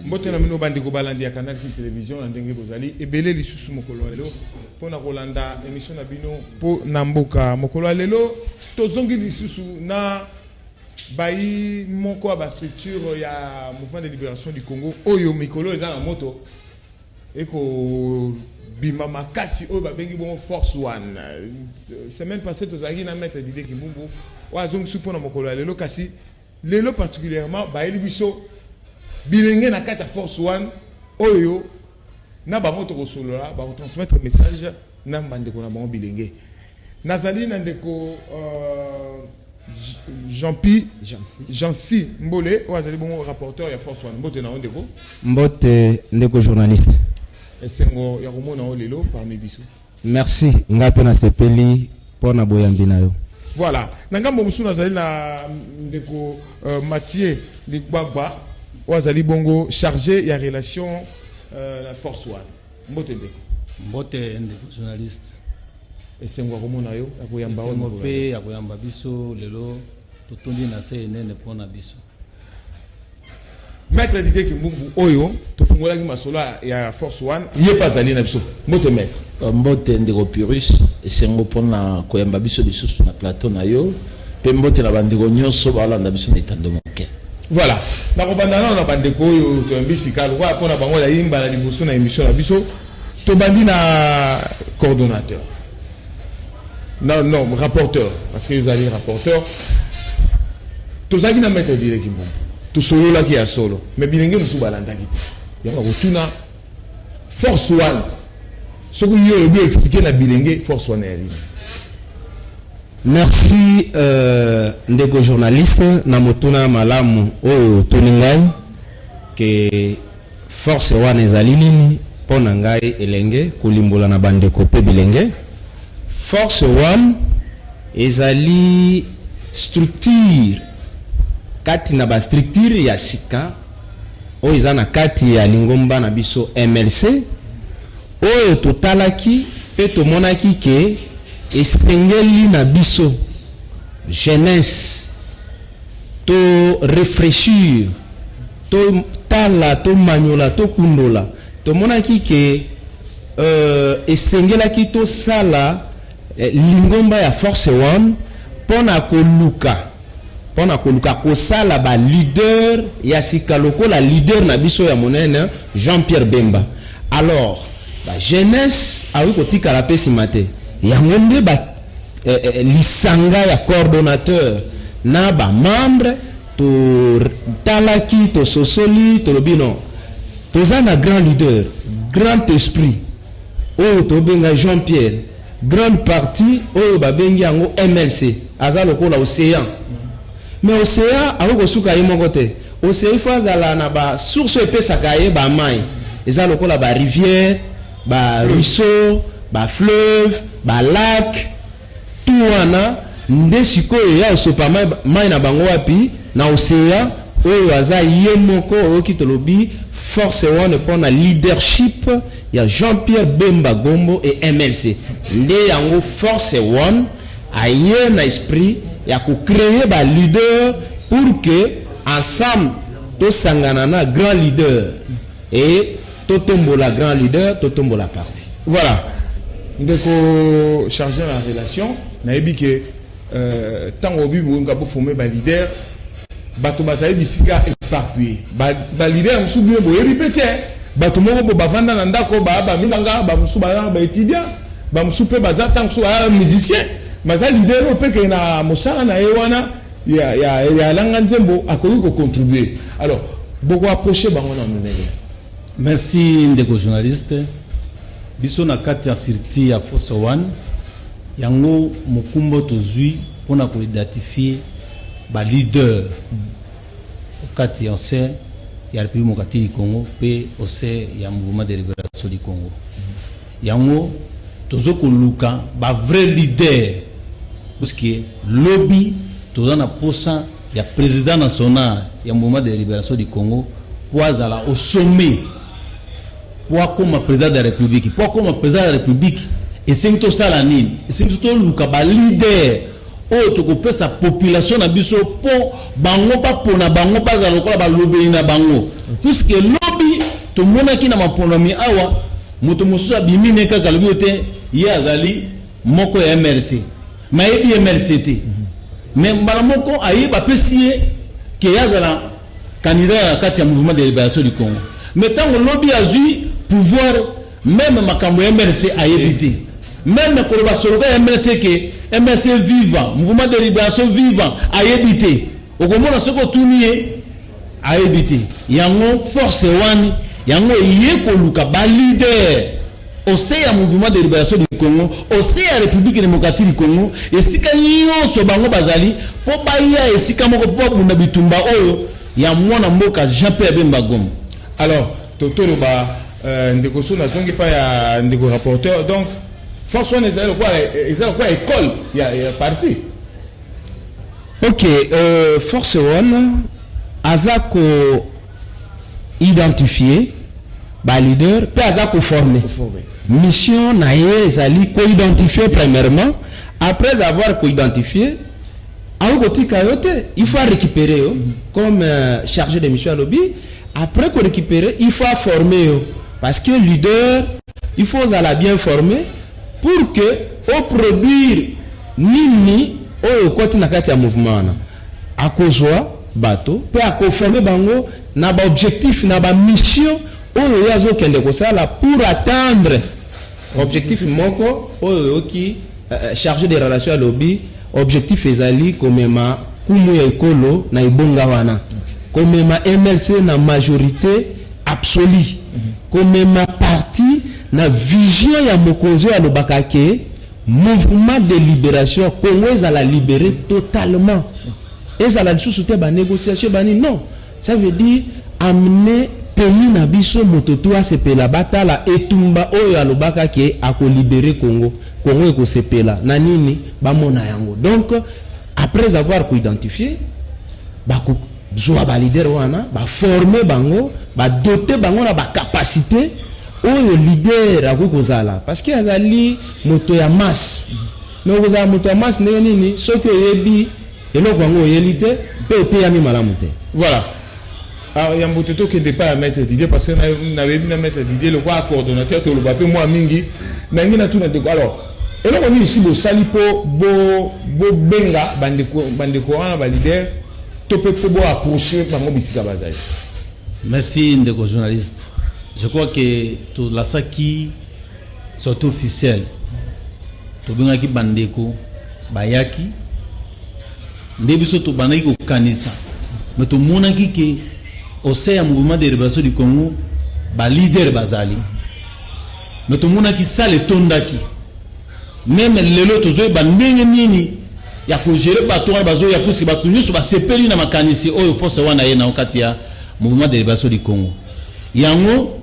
mbote na bino bandeko balandi ya canal fin télévision na ndenge bozali ebele lisusu mokolo ya lelo mpo na kolanda émission na bino mpo na mboka mokolo ya lelo tozongi lisusu na bayi moko ya bastructure ya mouvement de libération du congo oyo mikolo eza na moto Eko bima makasi oyo babengi bongo force one semaine passée tozalaki na maître dide kimbumbu oyo azongisi mpo na mokolo ya lelo kasi lelo particulièrement bayeli biso bilenge na kati ya force one oyo na bango tokosolola bakotransmettre message na bandeko na bango bilenge Nazali na ndeko Jean-Pi Jean-Si Mbole oyo azali bongo rapporteur ya Force One. Mbote na yo ndeko. Mbote ndeko journaliste. Esengo ya komona yo lelo parmi biso. Merci, ngai mpe nasepeli mpo na boyambi na yo. Voilà, na ngambo mosusu nazali na ndeko euh, Mathieu Ligbagba oyo azali bongo chargé ya relation euh, na Force One. Mbote ndeko. Mbote ndeko journaliste. Esengo ya komona yo, ya koyamba yo. Esengo pe ya koyamba biso lelo totondi na se enene mpo na biso. Maître Didier Kimbumbu oyo tofungolaki masolo ya Force One, ye pe azali na biso. Mbote maître. Euh, mbote ndeko Pyrrhus, esengo mpo na koyamba biso lisusu na plateau na yo pe mbote na bandeko nyonso balanda biso na etando moke. Voilà. Nakobanda nano na bandeko oyo toyambisi kaka lokola mpo na bango ya yimba na liboso na emission na biso. Tobandi na coordonnateur. Non, non, rapporteur, parce que vous allez rapporteur. Tozaki na maître Dire Kimbumbu. Tosololaki ya solo. Mais bilenge mosusu balandaki te. Yango bakotuna force wana soki yo olobi explike na bilenge force wana ya lini merci euh, ndeko journaliste na motuna malamu oyo otuni ngai ke Force wana ezali nini? Mpo na ngai elenge kolimbola na bandeko mpe bilenge, force wana ezali structure kati na ba structure ya sika oyo eza na kati ya lingomba na biso MLC oyo totalaki mpe tomonaki ke esengeli na biso jeunesse to refreshir To tala, to manyola, to kundola. To monaki ke euh, esengelaki to sala eh, lingomba ya Force One pona ko luka pona ko luka ko sala ba leader ya sika lokola leader na biso ya monene Jean-Pierre Bemba. Alors, ba jeunesse awi ko tikala pe sima te. Yango nde ba eh, eh, lisanga ya coordonnateur na ba membre To talaki, to sosoli, tolobi non. Toza na grand leader, grand esprit. Oyo to benga Jean Pierre. Grande partie oyo ba bengi yango MLC. Aza lokola océan. Mais océan ako kosuka ye moko te. Océan il faut azala na ba source epesaka ye ba mai. Eza lokola ba rivière, ba ruisseau, ba fleuve, ba lac. Tout wana nde sikoyo ya osopa mayi na bango wapi na ocean oyo aza ye moko oyoki tolobi force one pona leadership ya Jean Pierre Bemba Gombo et MLC nde yango force one aye na esprit ya ko creer ba leader pour que ensemble tosangana na grand leader Et totombola grand leader, totombola parti. Voilà. Ndeko chargeur la relation, nayebi que euh, tango obi bolinga bo former ba leader bato bazali bisika éparpillé ba, ba leader mosusu bino boyebi mpe te bato moko bo bavanda na ndako baa bamibanga bamosusu baa baétudiant bamosusu mpe baza ntango mosusu baa musicien maza leader oyo mpe kee na mosala na ye wana ya ya ya alanga nzembo akoki ko contribuer alors boko approcher bango na ndenge merci ndeko journaliste biso na kati ya sirti ya fosse one yango mokumbo tozwi mpona ko identifier ba leader kati ya ose ya république mokati du congo mpe ose ya mouvement de libération du congo Yango tozo koluka ba vrai leader puisque lobi toza na posa ya president national ya mouvement de liberation du Congo po azala au sommet po akoma president de la republique po akoma president de la republique esengi tosala nini esengi biso toluka ba leader oyo tokopesa population na biso po bango bapona bango bazala lokola balobeli na bango puisque lobi tomonaki na maponami awa Moto mosusu abimi ne kaka alobi te ye azali moko ya MLC. Mais ayebi MLC te. Mais mbala moko aye bapesi ye ke azala candidat na kati ya mouvement de liberation du Congo. Mais ntango lobi azwi pouvoir meme makambo ya MLC ayebi te. Meme koloba soloka ya MLC ke MLC viva, mouvement de liberation viva ayebi te. Okomona soki otuni ye ayebi te yango force wani yango eye koluka ba leader ose ya mouvement de liberation du congo ose ya république démocratique du congo esika nyonso bango bazali mpo baya esika moko mpo babunda bitumba oyo ya mwana mboka jean pierre bemba goma alors totoloba euh, ndeko so nazongi mpa ya ndeko rapporteur donc force wana ezali lokola école ya, ya parti Ok euh, force one aza ko identifier ba leader pe aza ko former mission na ye ezali ko identifier premièrement après avoir ko identifier aokotika yo te il faut récupérer yo comme euh, chargé de mission alobi après ko récupérer il faut former yo parce que leader Il faut ozala bien forme pour que o produire nini oyo okoti na kati ya mouvement wana. Akozwa bato pe akoforme bango na ba objectif na ba mission oyo ye azokende kosala pour atteindre objectif moko oyo oyoki eh, eh, charge de relation alobi objectif ezali komema kumu ya ekolo na ebonga wana komema mlc na majorité absolu komema parti na vision ya mokonzi oyo alobaka ke mouvement de liberation ya congo ezala libere totalement ezala lisusu te banégociation bani non ça veut dire amener pays na biso moto tu asepela batala etumba oyo alobaka ke akolibere congo congo ekosepela na nini bamona yango donc Après avoir ko identifier ba ko zwa ba leader wana ba former bango ba doter bango na ba capacité oyo leader akoki kozala parce que azali moto ya masse mais okozala moto ya masse ndenge nini soki oyebi eloko yango oyeli te mpe oteyami malamu te voilà Alors ya mbote tokende epai ya maître Didier parce que nayebi na maître Didier lokola coordonnateur toloba mpe mwa mingi nangi natuna ndeko alors eloko nini si bosali mpo bobenga bandeko wana balider to mpe mpo boapproche bango bisika bazali merci ndeko journaliste je crois que tolasaki sorti officielle tobengaki bandeko bayaki Nde biso tobandaki kokanisa mais tomonaki ke au sein ya mouvement de liberation du Congo ba leader bazali mais tomonaki sale etondaki meme lelo tozoyeba ndenge nini ya kogere bato wana bazoya puiske bato nyonso basepeli na makanisi oyo force wana ye na kati ya mouvement de liberation du Congo yango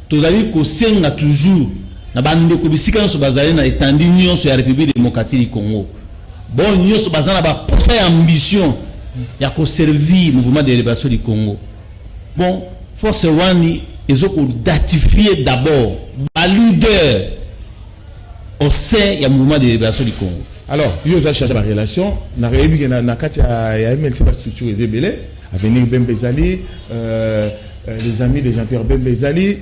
Tozali kosenga toujours na ba ndeko bisika nionso bazali na etandi nionso ya Republique Democratique du Congo, bo nionso baza na ba posa ya ambition ya ko servir Mouvement de Liberation du Congo, bon force wani ezo ko datifier d'abord ba leader au sein ya Mouvement de Liberation du Congo. Alors, yo oza charge ba relation na reyebi na kati ya MLC ba structure ezebele avenir Bembe ezali euh Euh, les amis de Jean-Pierre Bembe Ezali,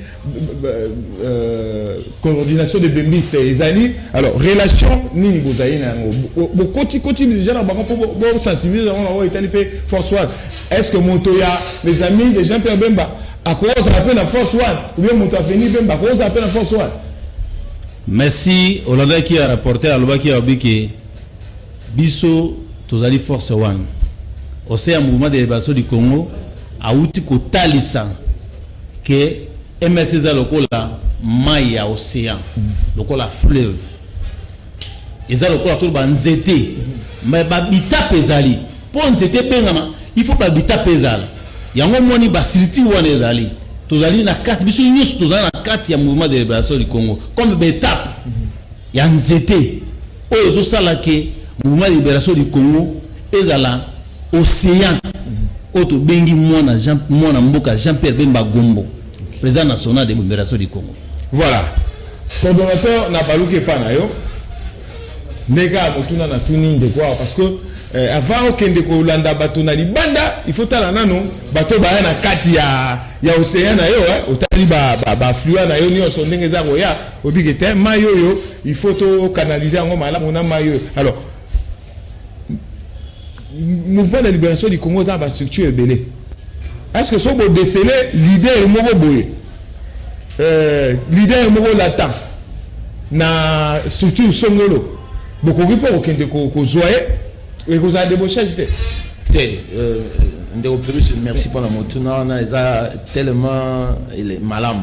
euh, euh, coordination de Bembiste Ezali. Alors, relation nini bozali na yango bokoti koti déjà na bango mpo bosensibilize yango na oyo etali mpe force one est ce que moto ya les amis de jean pierre bemba akozala mpe na force one ou bien moto aveni bemba akozala mpe na force one merci olandaki ya rapporter alobaki ya obiki Biso tozali force one au sein ya Mouvement de Liberation du Congo, awuti kotalisa ke MLC eza lokola mai ya ocean, lokola fleuve, eza lokola toloba nzete, mais babitape ezali mpo nzete ebengama il faut babitape ezala yango omoni basilitire wana ezali tozali na kati biso nyonso tozali na kati ya mouvement de liberation du congo comme betape ya nzete oyo ezo sala que mouvement de liberation du Congo ezala océan oyo tobengi mwana Jean mwana mboka Jean Pierre Bemba Gombo président national de libération du Congo voilà coordonnateur na baluki epa na yo ndenge ya motuna na tuni ndeko awa parce que eh, avant okende kolanda bato na libanda il faut tala nano bato baya na kati ya, ya ocean na yo eh, otali baflua ba, ba na yo nyonso ndenge eza koya Oyebi ke te mai oyo il faut to canaliser yango malamu na mai oyo alors mouvement de libération du congo eza na bastructure ebele est ce que soki bodesele leader moko boye euh, leader moko lata na structure songolo bokoki mpo kokende kozwa ye ekozala debochage te te euh, ndeko pelus merci mpona motuna wana eza tellement malamu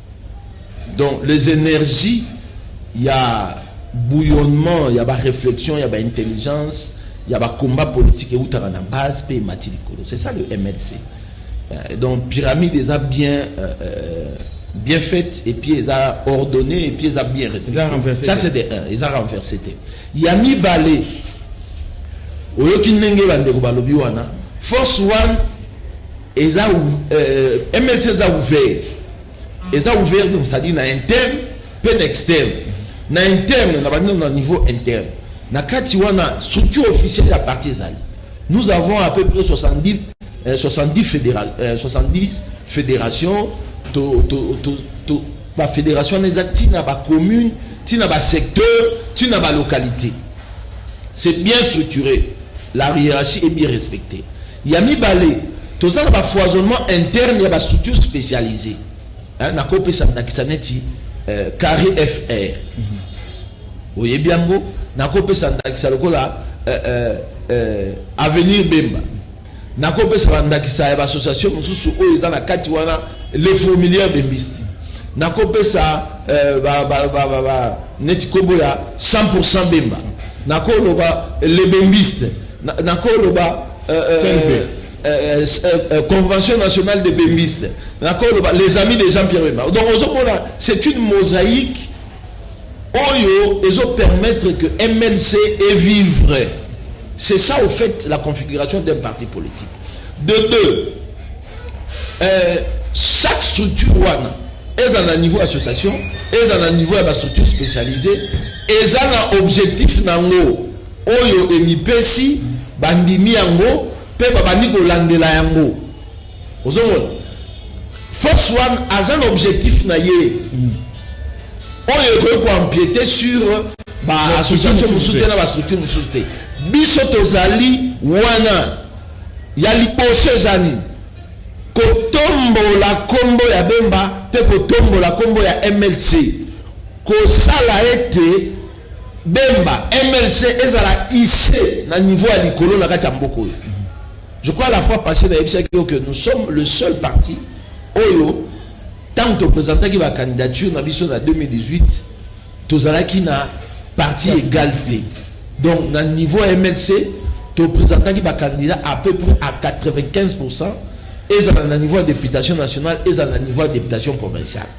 Donc les energies ya bouillonnement ya ba réflexion ya ba intelligence ya ba combat politique eutaka na base pe emati likolo c'est ça le MLC euh, donc pyramide eza bien euh, euh, bien faite et puis eza ordonné et puis eza bien respecté ça c'est de un eza renversé te ya mibale oyoki ndenge bandeko balobi wana force one Eza euh, MLC eza ouvert. Eza ouvert donc c'est-à-dire na interne pe na externe. Na interne na bandi na niveau interne. Na kati wana structure officielle ya parti ezali. Nous avons à peu près 70 euh, 70 fédéral euh, 70 fédérations to to to, to ba fédération eza tina ba commune, tina ba secteur, tina ba localité. C'est bien structuré. La hiérarchie est bien respectée. Ya mibale, toza na ba foisonnement interne ya ba structures specialisees. Nakopesa ndakisa neti Carre FR. Oyebi yango? Nakopesa ndakisa lokola Avenir Bemba. Nakopesa ba ndakisa ya ba associations mosusu oyo eza na kati wana, Les Fourmilières de Mbisti. Nakopesa neti kombo ya 100% Bemba. Nakoloba Les Bembistes. Nakoloba convention nationale de bembiste, nakoloba les amis de Jean Pierre Bemba. Donc ozomona c'est une mosaïque oyo ezo permettre que MLC est vivre. C'est ça au fait la configuration d'un parti politique. De deux, euh, chaque structure wana eza na niveau association eza na niveau ya bastructure spécialisée eza na objectif nango Oyo emipesi, bandimi yango, pe babandi kolandela yango. Ozomona? Force wana, aza na objectif na ye, oyo ekoki ko empieter sur ba associations mosusu te na ba structures mosusu te. Biso tozali wana. Ya liboso eza nini? Kotombola kombo ya Bemba pe kotombola kombo ya mlc. Kosala ete. Bemba, MLC ezala hisse na niveau ya likolo na kati ya mboka oyo. Je crois la fois passée nayebisaki yo que nous sommes le seul parti oyo ntango topresentaki bacandidature na biso na 2018 tozalaki na parti égal te donc na niveau ya mlc topresentaki bacandidat à peu près à 95 pourcent ezala na niveau ya députation nationale ezala na niveau ya députation provinciale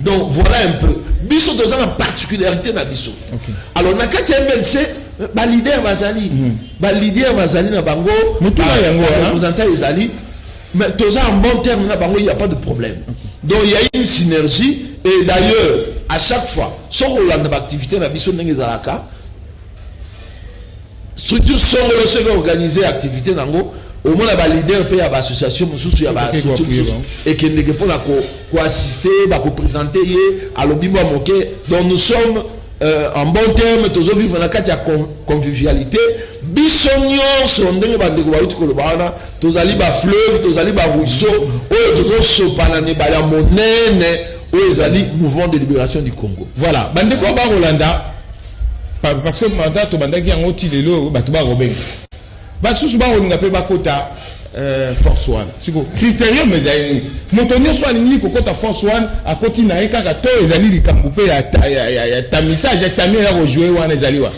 Donc voilà un peu. Biso dans la particularité na biso. Okay. Alors na kati MLC ba leader bazali. Mm. Ba leader bazali na bango. Mutuna ah, yango hein? représentant ezali. Mais tous en bon terme na bango il n'y a pas de problème. Okay. Donc il y a une synergie et d'ailleurs à chaque fois, sauf au land d'activité na biso ndenge zalaka, Structure songolo soki e organiser activite na yango omona ba leader pe ya ba association mosusu ya ba structure mosusu ekendeke pona ko ko assister ba ko presenter ye alobi mwa moke donc nous sommes euh, en bon terme tozo vivre na kati ya convivialité biso nyonso ndenge bandeko bauti koloba wana tozali ba fleuve tozali ba ruisseau oyo tozosopana na ebale ya monene oyo ezali mouvement de libération du congo voilà bandeko ya bakolanda Parce que mandat tobandaki yango ti lelo bato bakobenga basusu bakolinga mpe bakota euh, force one siko criterium ezali nini moto nyonso alingi kokota force one akoti na ye kaka to ezali likambo mpe ya tamisage ya tami ya kojoue wana ezali wa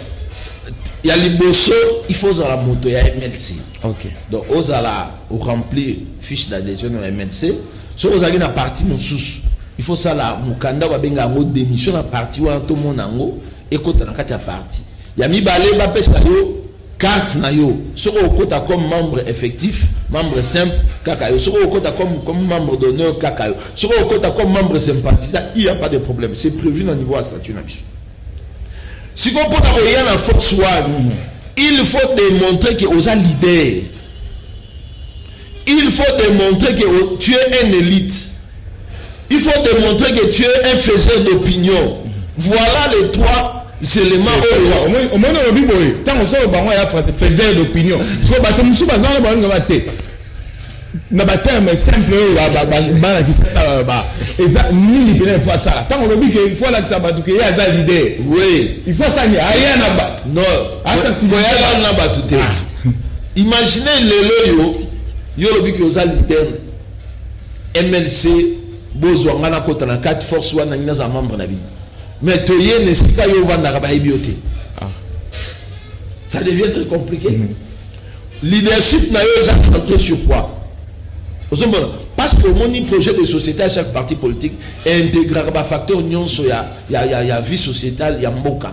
ya liboso il faut ozala moto ya mlc okay. donc ozala oremplir fiche d'adhesion ya mlc Soki ozalaki na parti mosusu il faut sala mokanda ba benga yango demission na parti wana to mona yango ekota na kati ya parti ya mibale ba pesa yo carte na yo soki okota comme membre effectif membre simple kaka yo soki okota comme comme membre d'honneur kaka yo soki okota comme membre sympathisant il y a pas de problème c'est prévu na niveau ya statut na biso sikoyo mpo na koya na force wana il faut démontrer que oza leader Il faut demontrer que tu es un elite. Il faut demontrer que tu es un faiseur d'opinion. Voilà les trois zelema oyo omoni olobi boye ntango solo bango ya france faiseur d'opinion so bato mosusu baza wana balinga ba te na baterme simple oyo balakisa eza nini mpena ifo asala ntango olobi ke ifo alakisa bato ke ye aza lider ifo asani aya na bato asakoyala na bato te ah. Imaginer lelo yo yo olobi ke oza leader MLC bozwa nga nakota na kati force wana nangi naza membre na bino mais toye na esika yo ovandaka bayebi yo te ah. ça devient très compliqué mm -hmm. leadership na yo eza centré sur quoi ozomona parce que omoni projet de société à chaque parti politique intégraka bafacteur nyonso ya, ya, ya, ya vie sociétale ya mboka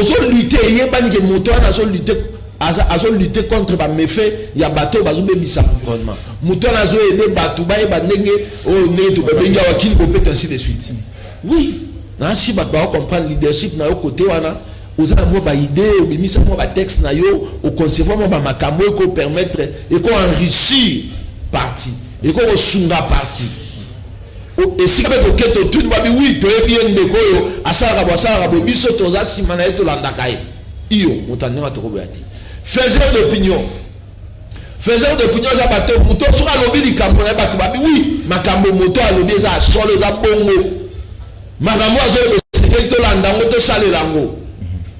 Ozo lutter eyebani ke moto wana azo lutter aza azo lutter contre ba méfaits ya bato oyo bazo bebisa environnement moto wana azo aider bato bayeba ndenge oyo ndenge tobabengi awa kili kopeta ainsi de suite oui nasi bato bao comprendre leadership na yo kote wana oza na mwa baidee obimisa mwa batexte na yo oconcevoir mwa bamakambo eko permettre eko enrichir parti eko kosunga parti O esika pe toke totuni ba bi oui toyebi ye ndeko oyo asalaka boye asalaka boye biso toza sima na ye tolandaka ye iyo moto ya ndenge wana tokoboya te faiseur d'opinion faiseur d'opinion eza bato moto soki alobi likambo na ye bato babi oui makambo moto alobi eza ya solo eza bongo makambo azoloba esengeli tolanda yango tosalela yango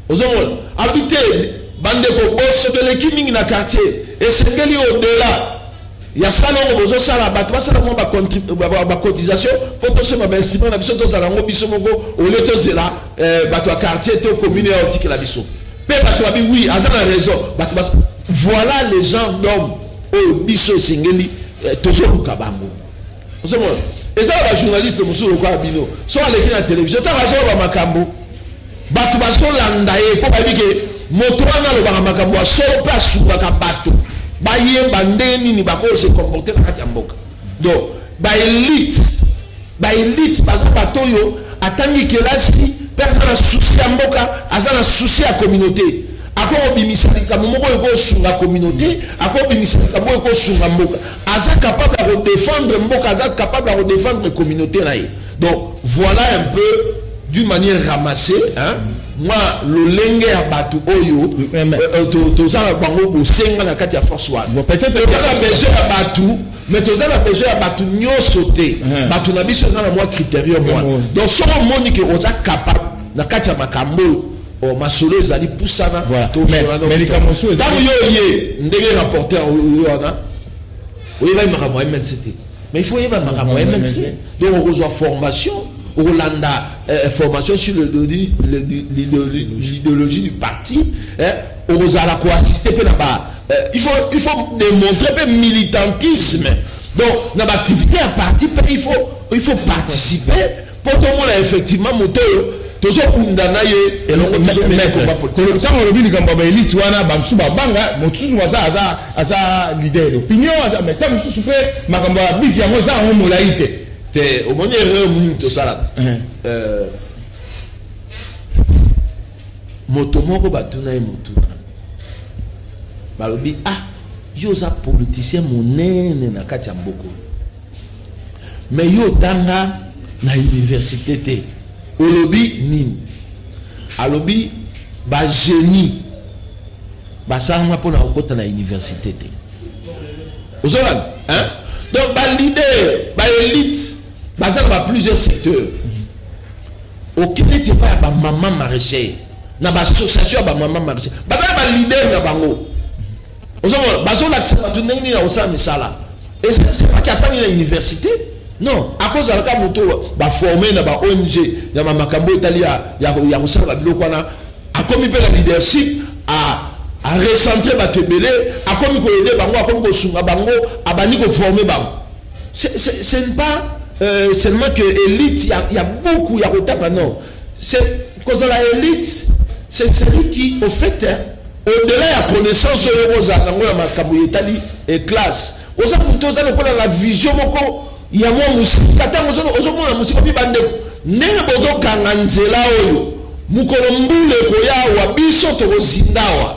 ozomona abi te bandeko boso toleki mingi na quartier esengeli odela Ya salongo bozo sala batu basala mwa ba cotisation po tosomba ba instrument na biso tozala yango biso moko olie tozela eh, batu ya quartier to commune ya otikela biso pe batu babi oui aza na raison batu bas voilà les gens d'homme oyo biso esengeli eh, tozoluka bango Ozomona eza na bajournaliste mosusu lokola bino, soki aleki na televizio kaka azoloba makambo, bato bazolanda ye mpo bayebi ke moto wana alobaka makambo ya solo mpe asukaka bato bayeba ndenge nini bakoyo se comporte na kati ya mboka. Donc baelite baelite baza bato oyo atangi kelasi mpe aza na susi ya mboka, aza na susi ya communauté akobimisa likambo moko oyo ekosunga communauté, akobimisa likambo oyo ekosunga mboka. Aza capable ya ko defendre mboka, aza capable ya ko defendre communaute na ye. Donc voilà un peu d'une manière ramassée hein mwa lolenge ya bato oyo eh, euh, euh, toza na bango bosenga na kati ya force wana toza na besoin ya bato mais toza na besoin ya bato nyonso te eh. bato na biso eza na mwa criterium wana donc soki omoni ke oza capable na kati ya makambo oyo Bon masolo ezali pusana voilà. to mais, solana mais likambo mosusu ezali ntango yo oye ndenge rapporteur oyo wana oyebaki makambo ya mnc te mais il faut oyeba makambo ya mnc donc okozwa formation okolanda euh, formation sur l'idéologie du parti hein, okozala koassiste mpe na ba euh, il faut il faut démontrer mpe militantisme donc na baactivité ya parti mpe il faut il faut participer Po tomona effectivement moto oyo tozo bunda naye elongo tozo mena combat politique. Tango olobi likambo ya ba elite wana ba mosusu ba banga moto susu aza aza aza leader d'opinion aza mais tango mosusu pe makambo ya biki yango eza yango molayi te. Te omoni erreur nini tosalaka. Euh, moto moko batuna ye motuna balobi ah yo oza politicien monene na kati ya mboka oyo Mais yo otanga na universite te olobi nini alobi ba génie basalanga mpo na kokota na universite te ozolanda hein donc ba leader ba élite baza na ba plusieurs secteurs okende ti epai ya bamama maraîcher na baassociation ya bamama maraîcher baza na baleader na bango ozomona bazolakisa bato ndenge nini akosala misala esepaki atangi na université non akozalaka moto baforme na ba ong ya makambo etali ya kosala babiloko wana akomi mpe na leadership arecentre bato ebele akomi koyede bango akomi kosunga bango abandi koforme bango ce n'est pas euh, seulement que elite ya, ya buku ya kotanga non C'est kozala elite, c'est celui qui au fait au-delà ya connaissance oyo ozala nango na makambo etali eh, classe oza moto oza lokola na vision moko ya mwa mosika ntango ozomona mosika mpe bandeko ndenge bozokanga nzela oyo mokolo mbula ekoya awa biso tokozinda awa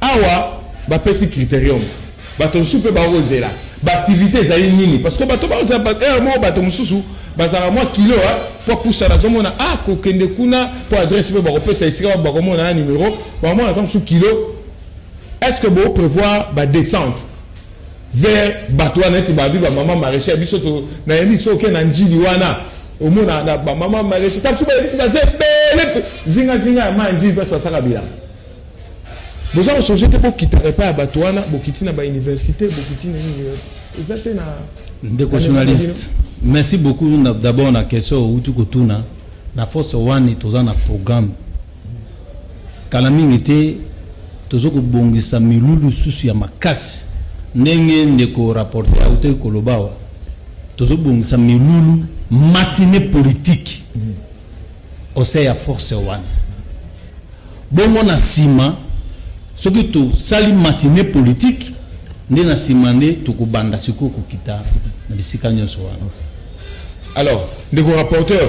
Awa ba pesi criterium bato mosusu mpe bakozela baaktivité ezali nini parce que bato bakozela heure moko bato mosusu bazalaka mwa kilo mpo apusana azomona a ah, kokende kuna mpo adresse mpe bakopesa esika bato bakomona na numero bakomona ata mosusu kilo est ce que boprévoir badescente vers bato wana ete babi bamama maraîcher biso nayebi biso oke na njili wana omona na bamama maraîcher ta mosusu bayebi baza ebele zingazinga ya mai njili mpe basaka bilanga boza kosonge te bokitaka epai ya bato wana bokiti na bauniversité bokiti na nini eza te na ndeko journaliste merci beaucoup d'abord na question outi kotuna na force wani toza na programme kala mingi te toza kobongisa milulu susu ya makasi ndenge ndeko rapporte autaki koloba awa tozobongisa milulu matine politike mm. Conseil ya force wana. Bongo na sima soki tosali matinee politique nde na sima nde tokobanda sikoyo kokita na bisika nyonso wana. Alors, ndeko rapporteur,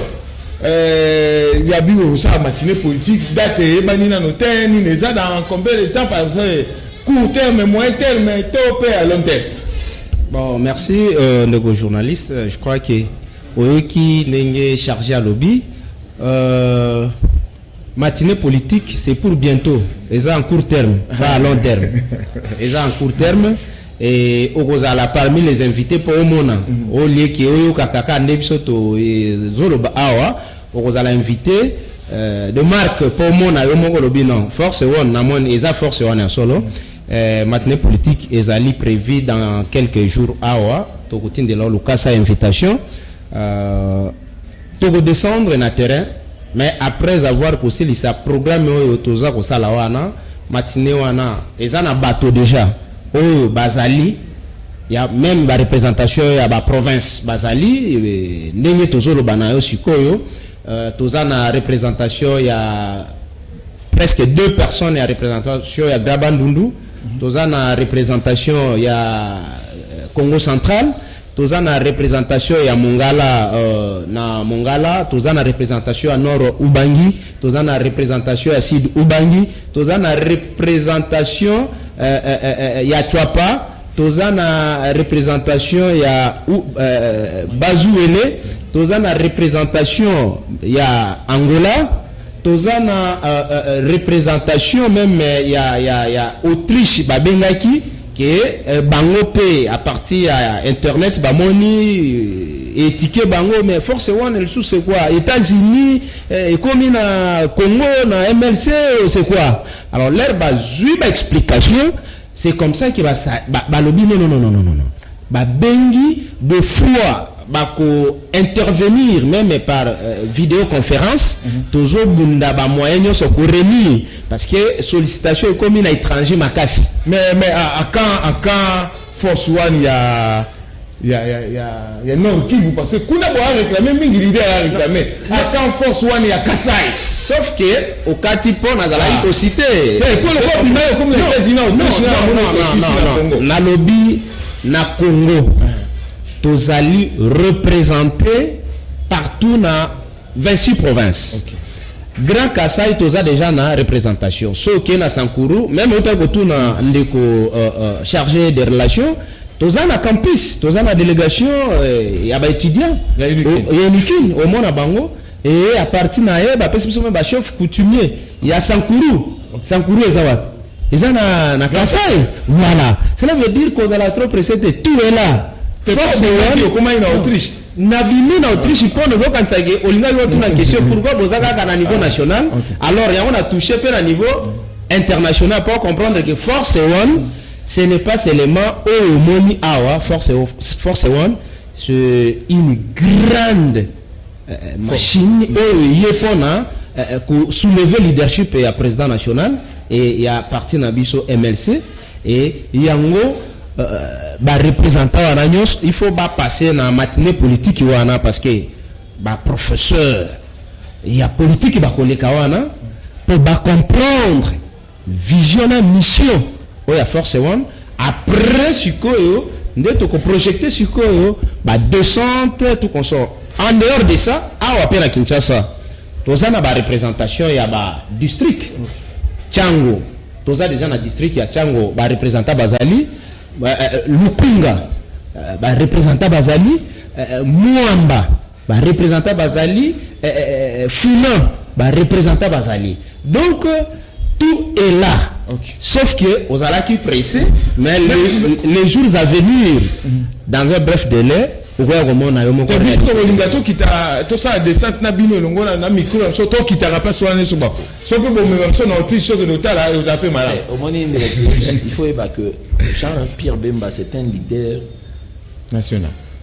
euh, ya bino kosala matinee politique date eyebani nano te nini eza dans combien de temps par exemple court terme moyen terme to mpe à long terme bon merci euh, ndeko journaliste je crois que Oyoki ndenge charge alobi euh, matinée politique c'est pour bientôt eza en court terme pas à long terme eza en court terme et okozala parmi les invités mpo omona mm. olieki oyokaka kaka nde biso tozoloba eh, awa okozala invité euh, de marque mpo omona yo moko olobi non force one namoni eza force one ya solo mm. Eh, matinee politique ezali prevu dans quelques jours awa tokotindela yo lokasa invitation uh, tokodescendre na terrain mais après avoir kosilisa programme oyo toza kosala wana matine wana eza na bato deja oyo bazali ya meme barepresentation ya baprovince bazali eh, ndenge tozoloba na yo sikoyo Euh, toza na representation ya presque deux personnes ya representation ya graba ndundu toza na representation ya euh, congo central toza na representation ya mongala euh, na mongala toza na representation ya nord ubangi toza na representation ya sud ubangi toza na representation euh, euh, euh, euh ya chwapa toza na representation ya uh, bazuele toza na representation ya angola toza na uh, uh, representation meme ya, ya, ya autriche babengaki ke uh, bango mpe a partir ya internet bamoni uh, etike bango mais force wana lisusu c'est quoi états-unis uh, ekomi na congo na mlc c'est quoi alors leur bazwi baexplication ba C'est comme ça que basa, ba, balobi non, non, non, non, non, non. Babengi de fois bako intervenir même par euh, vidéoconférence mm -hmm. tozo bunda ba moyen nyonso ko remis parce que sollicitation ekomi na étranger makasi mais mais à, à quand à quand force one ya ya ya ya ya Nord Kivu parce que kuna boa réclamer mingi leader a réclamer attend force one ya Kasai sauf que okati po na zala ko citer te ko le ko bima yo comme les États-Unis au non non non na lobby na Congo tozali représenter partout na 26 provinces okay. grand kasai toza déjà na représentation soki na sankuru meme otali kotuna ndeko euh, euh, chargé de relation toza na campus toza na delegation eh, ya ba étudiants ya unikin omona bango et à partir na ye bapesi biso me ba chef coutumier ya sankuru sankuru eza wapi eza na na kasai voilà cela veut dire kozala trop pressé te tout est là force okomaki na autriche nabimi na autriche mpo nazokanisa ke olingaki otuna question pourquoi boza kaka na niveau national alors yango na touche mpe na niveau international mpo comprendre ke force one Ce n'est pas seulement oyo omoni awa force force one c'est une grande euh, machine oyo eye mpona euh, ko soulever leadership ya président national et ya parti na biso MLC et yango euh, ba représentant wana nyonso il faut ba passer na matinée politique wana parce que ba professeur ya politique bakoleka wana mpo ba comprendre Vision na mission oyo ya Force One après sikoyo nde toko projecter sikoyo ba descente tout consort en dehors de ça awa pe na Kinshasa toza na ba représentation ya ba district Chango toza deja na district ya Chango ba representa bazali euh, euh, Lukunga euh, ba representa bazali Mwamba ba representants bazali eh, eh, eh, eh fumant ba representants bazali donc tout est là okay. sauf que ozalaki pressé mais les, les jours à venir dans un bref délai okoya komona yo moko biso tokolinga tokita tosala descente na bino elongo na micro ya biso tokitaka mpasi wana nyonso bako soki mpe bomema biso na otrise soki lotala ozala mpe malamu eh, omoni il faut yeba que jean pierre bemba c'est un leader national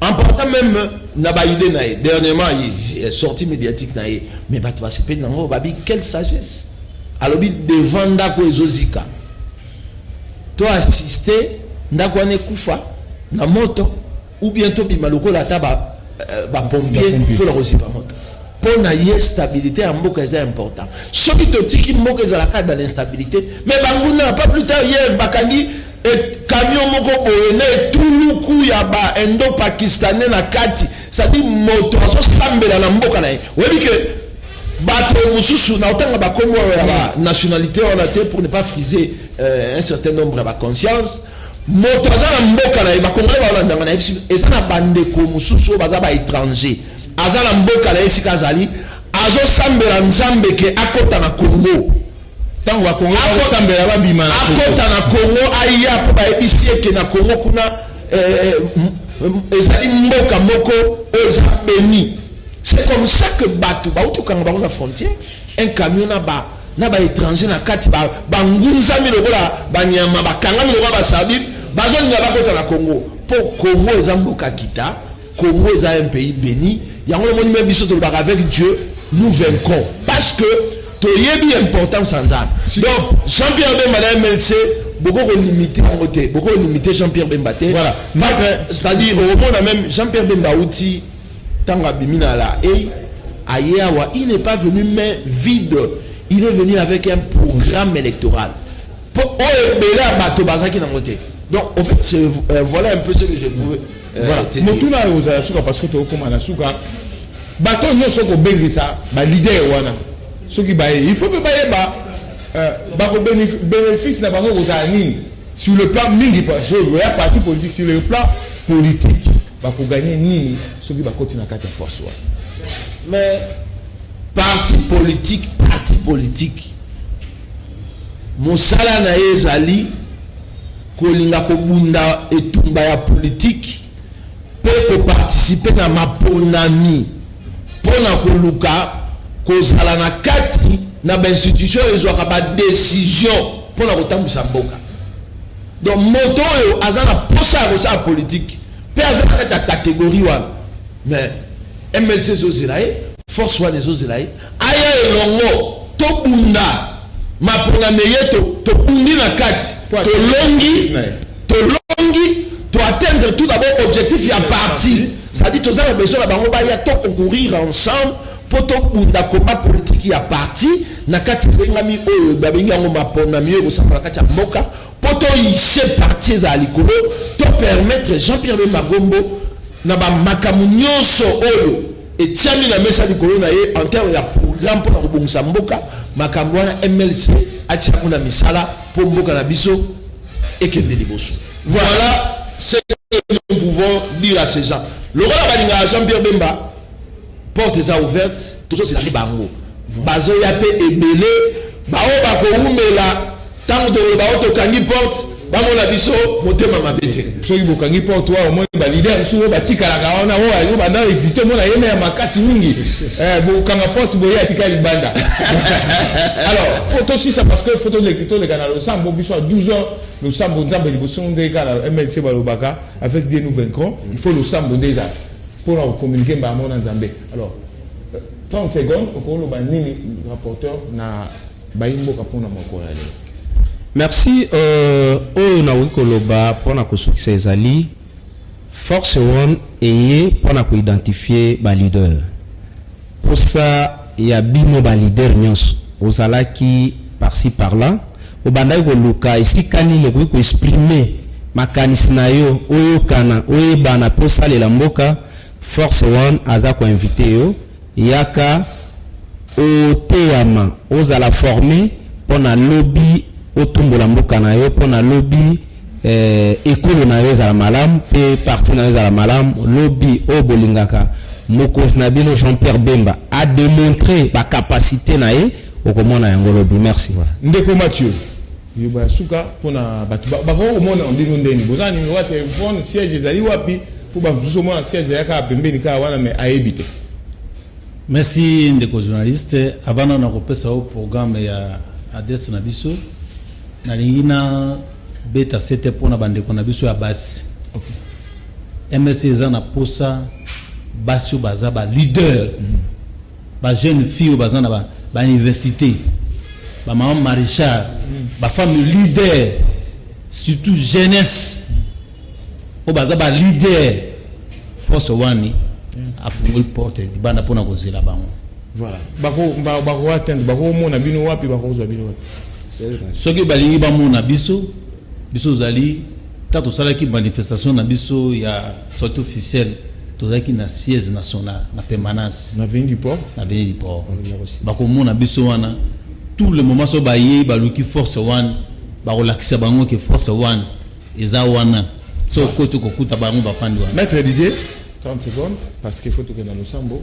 En partant meme na ba idée na ye dernièrement ye sortie médiatique na ye mais bato basepeli na ngo babi quelle sagesse alobi devant ndako ezozika to assister ndako wana ekufa na moto ou bien tobima lokola ata bapompier euh, ba mpona kozipa moto mpo na ye stabilité ya mboka eza important soki totiki mboka ezalaka dans l'instabilité mais banguna pas plus tard hier bakangi E camion moko boye na etuluku ya ba indo pakistanais na kati, c'est-à-dire moto azosambela na mboka na ye. Oyebi ke bato mosusu na otanga bakombo ya ba nationalité wana te pour ne pas friser euh, un certain nombre ya ba conscience moto aza na mboka na ye bakongole balandanga na ye eza na bandeko mosusu oyo baza baétranger aza na mboka na ye esika azali azosambela nzambe ke akota na congo Tango ba congolais ba kosambela ba bima na Congo. Akota na Congo aya po ba yebisi ye ke na Congo kuna eh, eh, ezali mboka moko oyo eza beni. C'est comme ça que bato ba uti kanga bango na frontière un camion na ba na ba étranger na kati ba ba ngunzami lokola ba nyama ba kangami lokola ba sardine bazo linga bakota na Congo po Congo eza mboka kita Congo eza un pays beni yango omoni meme biso tolobaka avec Dieu nous vaincrons parce que toyebi importance ya Nzambe. Donc Jean-Pierre Bemba na MLC boko ko limiter yango te, boko ko limiter Jean-Pierre Bemba te. Voilà. C'est-à-dire omona même Jean-Pierre Bemba uti tango abimi na la et aye awa il n'est pas venu main vide, il est venu avec un programme électoral. Po oyo ebele ya bato bazaki nango te. Donc, au fait, euh, voilà un peu ce que je pouvais. Voilà. Eh, motuna oyo ozala suka parce que tokokoma na suka bato nyonso kobengisa balider wana soki baye il faut mpe bayeba euh, bakobénéfice na bango kozala nini sur le plan mingi ya parti politique sur le plan politique bakoganye nini soki bakoti na kati ya force wana mais parti politique parti politique mosala na ye ezali Kolinga kobunda etumba ya politiki mpe ko participer na maponami mpo na koluka kozala na kati na ba institutions oyo ezwaka ba decisions mpo na kotambwisa mboka. Donc moto oyo aza na mposa ya kosala politiki mpe aza na kati ya categorie wana mais MLC ezozela ye, force wana ezozela ye. Aya elongo tobunda mapona meye to tobundi na kati tolongi tolongi to atteindre tout d'abord objectif ya parti ça dit toza na besoin na bango baya to concourir ensemble mpo tobunda combat politique ya parti na kati ezengami oyo babengi yango mapona miyo ekosamba na kati ya mboka mpo toyise parti ezala likolo to permettre Jean-Pierre Bemba Gombo na ba makambo nyonso oyo Etiami na mesa likolo na ye en terme ya programme mpo na kobongisa mboka, makambo wana MLC atia yango na misala mpo mboka na biso ekende liboso. Voilà ce que nous pouvons dire à ces gens. Lokola balingaka Jean-Pierre Bemba, porte eza ouverte, tozozela nde bango. Bazoya mpe ebele, baoyo bakowumela Tango tokoloba oh tokangi porte bamona biso motema mabe te. Soki bokangi porte wana omoni ba leader mosusu oyo batikalaka wana oyo ayo banda hésite omona yeme ya makasi mingi eh, bokanga porte boye atika libanda alors po tosisa parce que fo toleka na losambo biso ya 12 heures losambo nzambe liboso nde kaka na mlc balobaka avec dieu nous vaincrons il faut losambo nde eza mpo na kokommunike mbala moko na nzambe alors 30 secondes okoloba nini rapporteur na Bayi mboka mpo na mokolo ya lelo. Merci euh, oyo nakoki koloba mpo na kosukisa ezali force one eye mpo na koidentifie baleader mposa ya bino baleader nyonso ozalaki parci parla obandaki koluka esika nini okoki koexprime makanisi na yo oyokana oyebana mpe osalela mboka force one aza koinvite yo Yaka oteyama, ozala former pona lobi otumbola mboka na yo, pona lobi eh, ekolo na yo ezala malamu pe parti na yo ezala malamu. Lobi oyo bolingaka mokonzi na bino Jean-Pierre Bemba a demontrer ba capacites na ye, okomona yango lobi. Merci. Ndeko Mathieu. Liloba ya suka pona batu bakoki komona bino ndeni boza na numero ya telefone siège ezali wapi po bato mosusu omona siège ya kaka pembeni kaka wana me ayebi te merci ndeko journaliste avant nano nakopesa yo programme ya adresse na biso nalingi na beta sete mpo na bandeko na biso ya basi okay. msc eza na posa basi oyo baza ba leader mm -hmm. Ba jeunes filles oyo baza na ba ba universite, ba maman marechal, ba femmes leaders, surtout jeunesse oyo baza ba leaders, force wani afungoli porte libanda mpona kozela bango. Voilà. Bako ba- bako atteindre bako mona bino wapi bako zwa bino wapi. soki balingi bamona biso biso ozali Tango tosalaki manifestation na biso ya sortie officielle, tozalaki na siège national na permanence na Avenue du Port, na Avenue du Port. Bakomona biso wana tout le moment, soki bayei baluki force one, bakolakisa bango ke force one eza wana, soki okoti okokuta bango bafandi wana. Maître Didier, 30 secondes, parce qu'il faut tokende na losambo.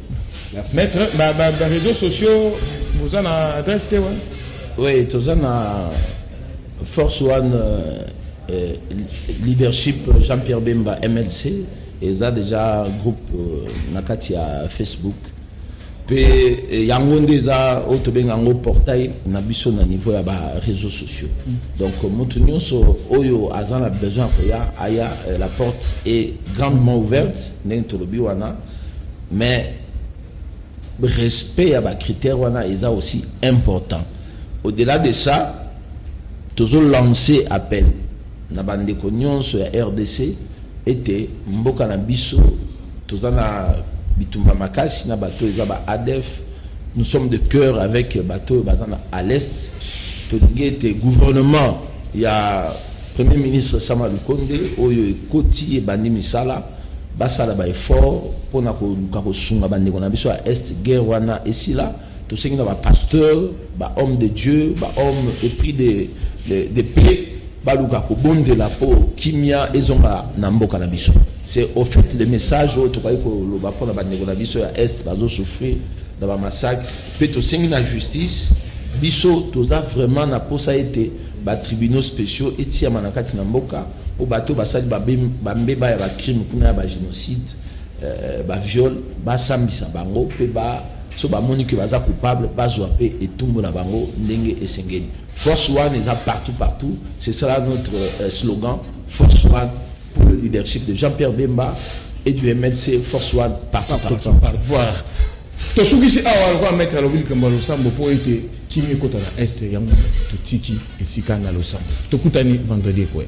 Maître, ba, ba, ba réseaux sociaux, vous en a adresse te, ouais? Oui, tous en a Force One euh, euh leadership Jean-Pierre Bemba MLC, et ça déjà groupe euh, Nakati à Facebook. Puis euh, yango nde eza oyo tobenga yango portail na biso na niveau ya ba réseaux sociaux mm. donc euh, moto nyonso oyo aza na besoin ya koya aya la porte est grandement ouverte ndenge tolobi wana mais respect ya ba critères wana eza aussi important au delà de ça tozo lancer appel na bandeko nyonso ya rdc ete mboka na biso toza na bitumba makasi na bato eza ba adf nous sommes de cœur avec bato oyo baza na à l'est tolingi ete gouvernement ya premier ministre sama lukonde oyo ekoti ebandi misala Basala ba efforts pona koluka kosunga ba ndeko na biso ya Est, guerre wana esila, tosengi na ba pasteurs, ba hommes de Dieu, ba hommes epris de de paix baluka kobondela po kimia ezonga na mboka na biso. C'est au faite le message oyo tokaki koloba pona ba ndeko na biso ya Est bazo souffrir na ba massacres. Mpe tosengi na justice, biso toza vraiment na posa ete ba tribunaux speciaux etiama na kati na mboka mpo bato oyo basali ba mbeba ya ba crimes kuna ya ba genocides, ba viols, basambisa bango mpe ba soki bamoni que baza coupables bazwa mpe etumbu na bango ndenge esengeli. Force One eza partout partout, ce sera notre slogan Force One pour le leadership de Jean-Pierre Bemba et du MLC, Force One partout partout. Voilà. Tosukisi awa lokola maitre alobi likambo ya losambo mpo ete kimia ekota na est yango totiki esika na losambo tokutani vendredi ekoya